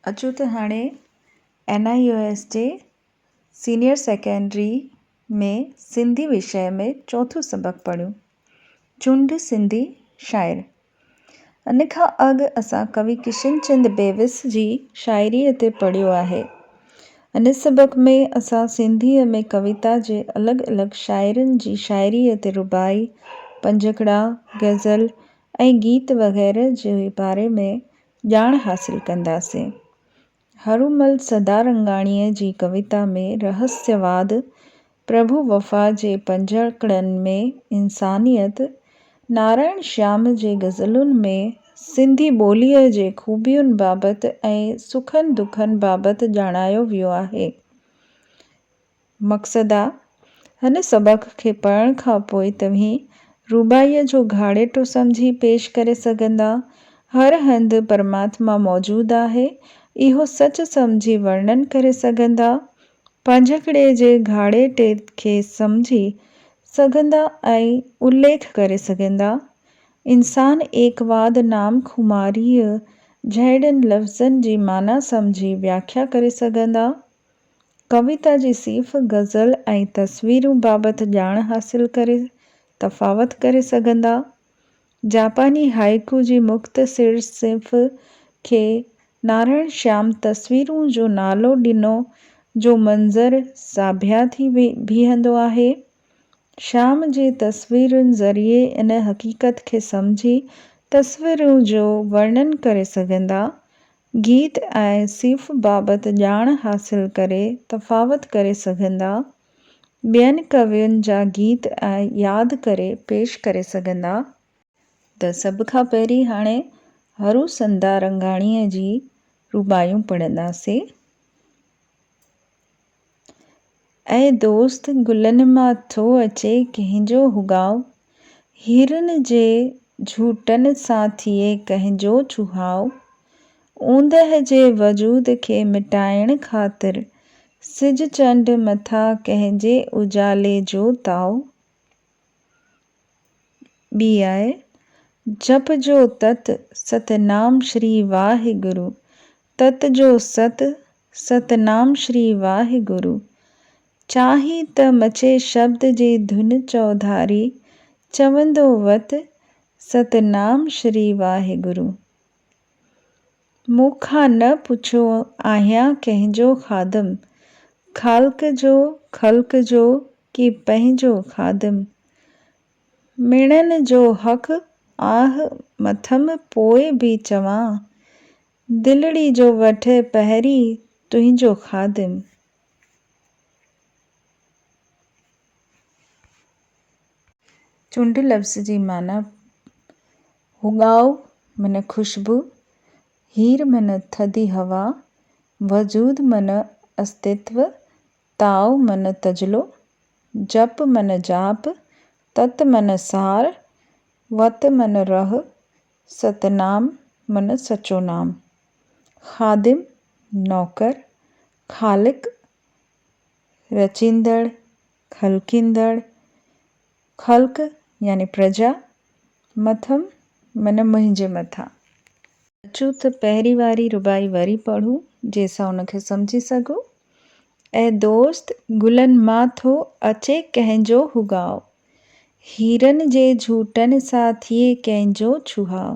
اچو ته هاڻي اين آء يو ايس جي سينيئر سيڪنڊري ۾ سنڌي وشيه ۾ چوٿون سبق پڙهيون. چونڊ سنڌي شاعر. ان کان اڳ اسان ڪوي ڪشن چند بيوس جي شاعريء تي پڙهيو آهي. ان سبق ۾ اسان سنڌيء ۾ ڪويتا جي الڳ الڳ شاعرن جي شاعريء تي رباعي، پنجڪڙا، غزل ۽ گيت وغيره جي باري ۾ ڄاڻ حاصل ڪنداسين. هرومل سدارنگاڻيء جي ڪويتا ۾ رهسيواد، پرڀو وفا جي پنجهڪڙن ۾ انسانيت، نارائڻ شيام جي غزلن ۾ سنڌي ٻوليء جي خوبين بابت ۽ سکن دکن بابت ڄاڻايو ويو آهي. مقصد آ هن سبق کي پڙهڻ کان پوء توهين روبائيء جو گهاڙيٽو سمجهي پيش ڪري سگهندا. هر هنڌ پرماتما موجود آهي اهو سچ سمجهي ورڻن ڪري سگهندا. پنجهڪڙي جي گهاڙيٽي کي سمجهي سگهندا ۽ اليک ڪري سگهندا. انسان ايڪواد نام خماريء جهڙين لفظن جي معنيٰ سمجهي وياکيا ڪري سگهندا. ڪويتا جي صيف، غزل ۽ تصويرون بابت ڄاڻ حاصل ڪري تفاوت ڪري سگهندا. جاپاني هائيڪو جي مختصر صنف کي نارائڻ شيام تصويرون جو نالو ڏنو جو منظر ساڀيا ٿي بيهندو آهي. شيام جي تصويرن ذريعي ان حقيقت کي سمجهي تصويرون جو ورڻن ڪري سگهندا گيت ۽ صيف بابت ڄاڻ حاصل ڪري تفاوت ڪري سگهندا، ٻين ڪوين جا گيت ۽ ياد ڪري پيش ڪري سگهندا، ته سڀ کان پهرين هاڻي هرو سنڌارنگاڻيء جي رباعيون پڙهنداسين. اي دوست گلن مان ٿو اچي ڪنهن جو هوگاء، هيرن جي جهوٽن سان ٿئي ڪنهن جو چوهاء، اوندهه جي وجود کي مٽائڻ خاطر، سج چنڊ مٿان ڪنهن جي اجالي جو تاء. ٻي آهي، جپ جو تت ست نام شري واهي گرو، تت جو ست ست نام شري واهي گرو، چاهي ته مچي شبد جي ڌن چوڌاري، چوندو وت ست نام شري واهي گرو. مون کان نه پڇيو آهيان ڪنهن جو خادم. خالق جو خلق جو ڪي پنهنجو خادم. ميڻن جو حق آهه مٿم پوء به چوان. دلڙي جو وٺ پهرين تنهنجو خادم. چنڊ لفظ جي معنيٰ هو ڳائو من خوشبو، هير من ٿڌي هوا، وجود من استتو، تائو من تجلو، جپ من جاپ، تت من سار، وت من رح، ستنام من سچو نام. خادم، نوڪر، خالق، رچيندڙ، خلقيندڙ، خلق يعني پرجا، مٿم معنيٰ منهنجي مٿان. اچو ته پهرين واري رباعي وري پڙهون، جنهن سان ان کي سمجهي سگهون. اي دوست! گلن مان ٿو اچي ڪنهن جو هوڳاء، هيرن جي جهوٽن سان ٿئي ڪنهن جو ڇهاء.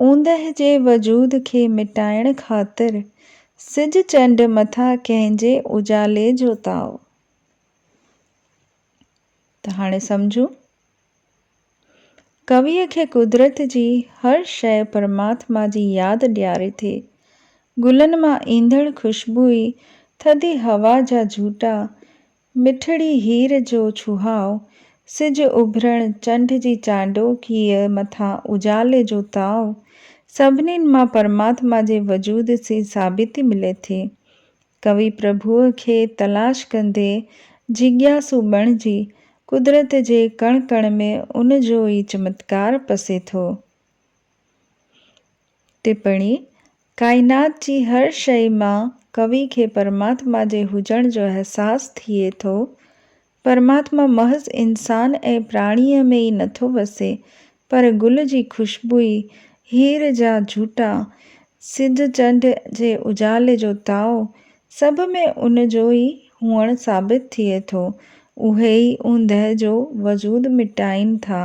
اوندهه جي وجود کي مٽائڻ خاطر، سج چنڊ مٿان ڪنهن جي اجالي جو تاء. ته هاڻي سمجهون. ڪويء کي قدرت جي هر شيء پرماتما جي ياد ڏياري ٿي. گلن مان ايندڙ خوشبوء، ٿڌي هوا جا جهوٽا، مٺڙي هير جو ڇهاء، سج اڀرڻ، چنڊ جي چانڊوڪيء مٿان اجالي جو تاء، سڀني مان پرماتما جي وجود جي ثابتي ملي ٿي. ڪوي پرڀوء کي تلاش ڪندي جيڳياسو بڻجي قدرت جي ڪڻ ڪڻ ۾ ان جو ئي چمتڪار پسي ٿو. ٽپڻي، ڪائنات جي هر شيء مان ڪوي کي پرماتما جي هجڻ جو احساس ٿئي ٿو. پرماتما محض انسان ۽ پراڻيء ۾ ئي نٿو وسي، پر گل جي خوشبوئي، هير جا جهوٽا، سج چنڊ جي اجالي جو تاء، سڀ ۾ ان جو ئي هئڻ ثابت ٿئي ٿو. اهي ئي اوندهه جو وجود مٽائين ٿا.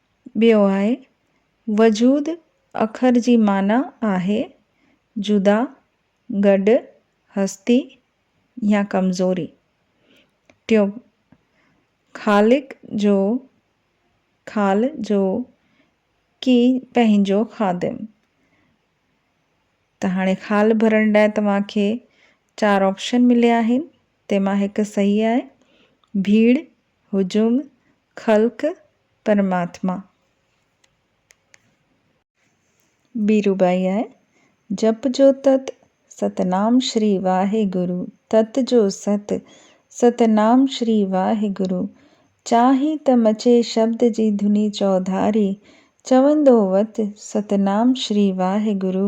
ٻيو آهي، وجود اکر جي معنيٰ آهي، جدا، گڏ، هستي يا ڪمزوري. ٽيون، خالق جو، خال جو، ڪي پنهنجو خادم. ته هاڻي خال ڀرڻ لاء توهان کي چار آپشن مليا آهن، تنهن مان هڪ صحيح آهي، ڀيڙ هجوم خلق پرماتما. بيرو ٻائي آهي. جپ جو تت، ستنام شري واهي گرو تت جو ست، ستنام شري واهي گرو. چاهين ته مچي شبد جي ڌني چوڌاري، چوندو وت، ستنام شري واهي گرو.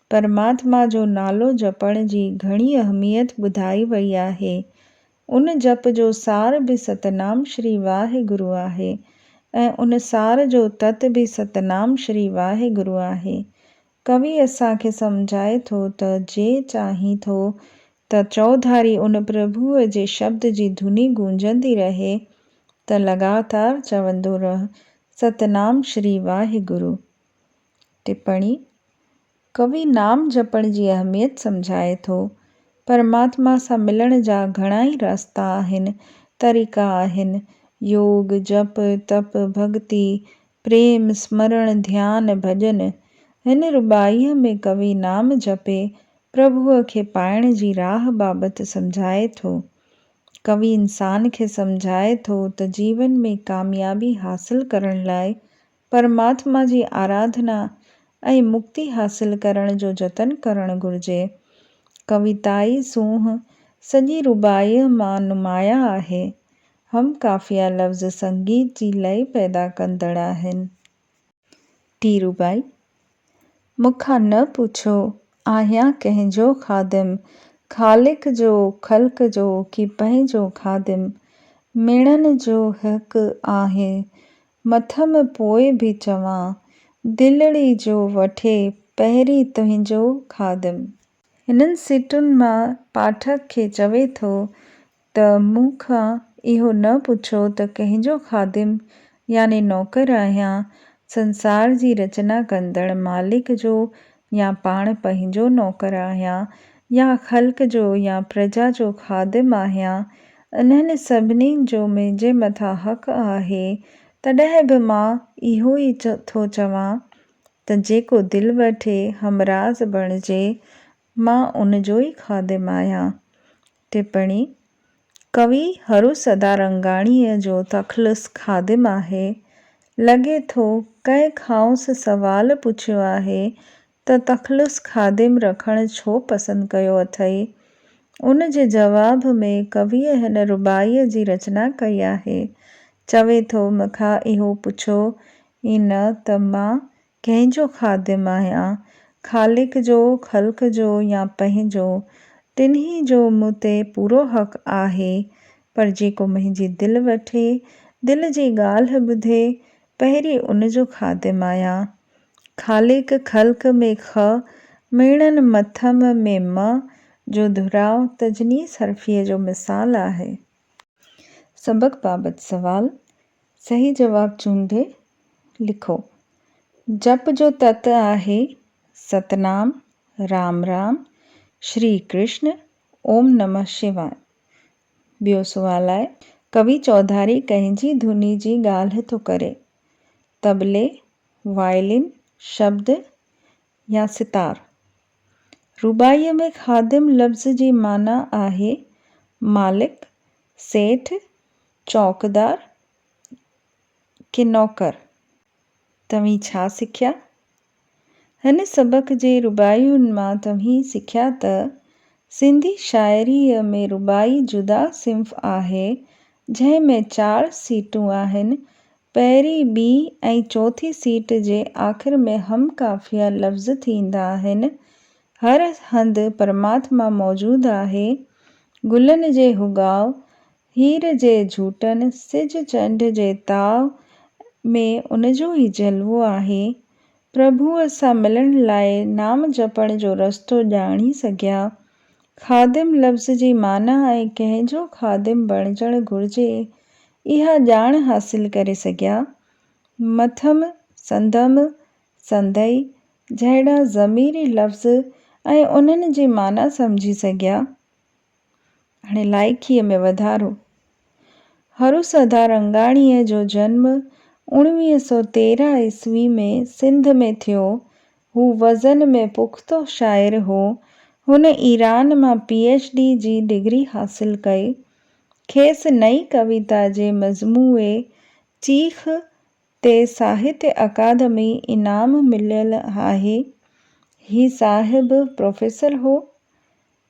پرماتما جو نالو جپڻ جي گهڻي اهميت ٻڌائي وئي آهي. ان جپ جو سار به ستنام شري واهه گرو آهي ۽ ان سار جو تت به ستنام شري واهه گرو آهي. ڪوي اسان کي سمجهائي ٿو ته جي چاهين ٿو ته چوڌاري ان پرڀوء جي شبد جي ڌني گونجندي رهي ته لڳاتار چوندو رهه ستنام شري واهه گرو. ٽپڻي، ڪوي نام جپڻ جي اهميت سمجهائي ٿو، پرماتما سان ملڻ جا گهڻائي راستا آهن، طريقا آهن، يوگ، جپ، تپ، ڀڳتي، پريم، سمرڻ، ڌيان، ڀڄن. هن رباعيء ۾ ڪوي نام جپي پرڀوء کي پائڻ جي راهه بابت سمجهائي ٿو. ڪوي انسان کي سمجهائي ٿو ته جيون ۾ ڪاميابي حاصل ڪرڻ لاء پرماتما جي آراڌنا ۽ مڪتي حاصل ڪرڻ جو جتن ڪرڻ گهرجي. ڪويتائي سونهن سڄي رباعيء مان نمايان آهي. هم قافيه لفظ سنگيت جي لئه پيدا ڪندڙ آهن. ڌيرو ڀائي! مون کان نه پڇو، آهيان ڪنهن جو خادم، خالق جو، خلق جو ڪي پنهنجو خادم؟ ميڻن جو هڪ آهي، مٿم پوء به چوان، دلڙي جو وٺي پهرين تنهنجو خادم. هنن سٽن مان پاٺڪ کي چوي ٿو ته مون کان اهو نه پڇو ته ڪنهن جو خادم يعني نوڪر آهيان، سنسار جي رچنا ڪندڙ مالڪ جو يا پاڻ پنهنجو نوڪر آهيان يا خلق جو يا پرجا جو خادم آهيان، انهن سڀني جو منهنجي مٿان حق آهي، تڏهن به مان اهو ئي ٿو چوان ته جيڪو دل وٺي همراز بڻجي، مان ان جو ئي خادم آهيان. ٽپڻي، ڪوي هرو سدارنگاڻيء جو تخلص خادم آهي. لڳي ٿو ڪنهن کانئس سوال پڇيو آهي ته تخلص خادم رکڻ ڇو پسند ڪيو اٿئي؟ ان جي جواب ۾ ڪويء هن رباعيء جي رچنا ڪئي آهي. چوي ٿو مکان اهو پڇو ئي نه ته مان ڪنهن جو خادم آهيان، خالق جو، خلق جو يا پنهنجو، ٽنهي جو مون تي پورو حق آهي، پر جيڪو منهنجي دل وٺي، دل جي ڳالهه ٻڌي، پهرين ان جو خادم آهيان. خالق، خلق ۾ خ، ميڻن مٿم ۾ م جو دهراء تجنيس حرفيء جو مثال آهي. سبق بابت سوال صحيح جواب چونڊي لکو. جپ جو تت آهي ستنام، رام رام، شري ڪرشن، اوم نمه شواء. ٻيو سوال آهي. ڪوي چوڌاري ڪنهن جي ڌني جي ڳالهه ٿو ڪري؟ طبلي، وائلين، شبد، يا ستار. رباعيء ۾ خادم لفظ جي معنيٰ آهي مالڪ، سيٺ، چوڪدار ڪي نوڪر. توهين ڇا سکيا؟ هن سبق جي رباعين مان توهين سکيا ته سنڌي شاعريء ۾ رباعي جدا صنف آهي جنهن ۾ چار سيٽون آهن پهرين، ٻي ۽ چوٿين سيٽ جي آخر ۾ هم قافيه لفظ ٿيندا آهن. هر هنڌ پرماتما موجود آهي. گلن جي هوڳاء، هير جي جهوٽن، سج چنڊ جي تاء ۾ ان جو ئي جلوو آهي. پرڀوء سان ملڻ لاء نام جپڻ جو رستو ڄاڻي سگهيا. خادم لفظ جي معنيٰ ۽ ڪنهن جو خادم بڻجڻ گهرجي، اها ڄاڻ حاصل ڪري سگهيا. مٿم، سندم، سندئي جهڙا ضميري لفظ ۽ انهن جي معنيٰ سمجهي سگهيا. هاڻي لائقيء ۾ وڌارو. هروسڌا رنگاڻيء جو جنم اوڻويهه سؤ تيرهن عيسوي ۾ سنڌ ۾ ٿيو. هو وزن ۾ پختو شاعر هو. هن ايران مان پي ايڇ ڊي جي ڊگري حاصل ڪئي. کيس نئين ڪويتا جي مجموعي چيخ تي ساهتيه اڪادمي انعام مليل آهي. هي صاحب پروفيسر هو.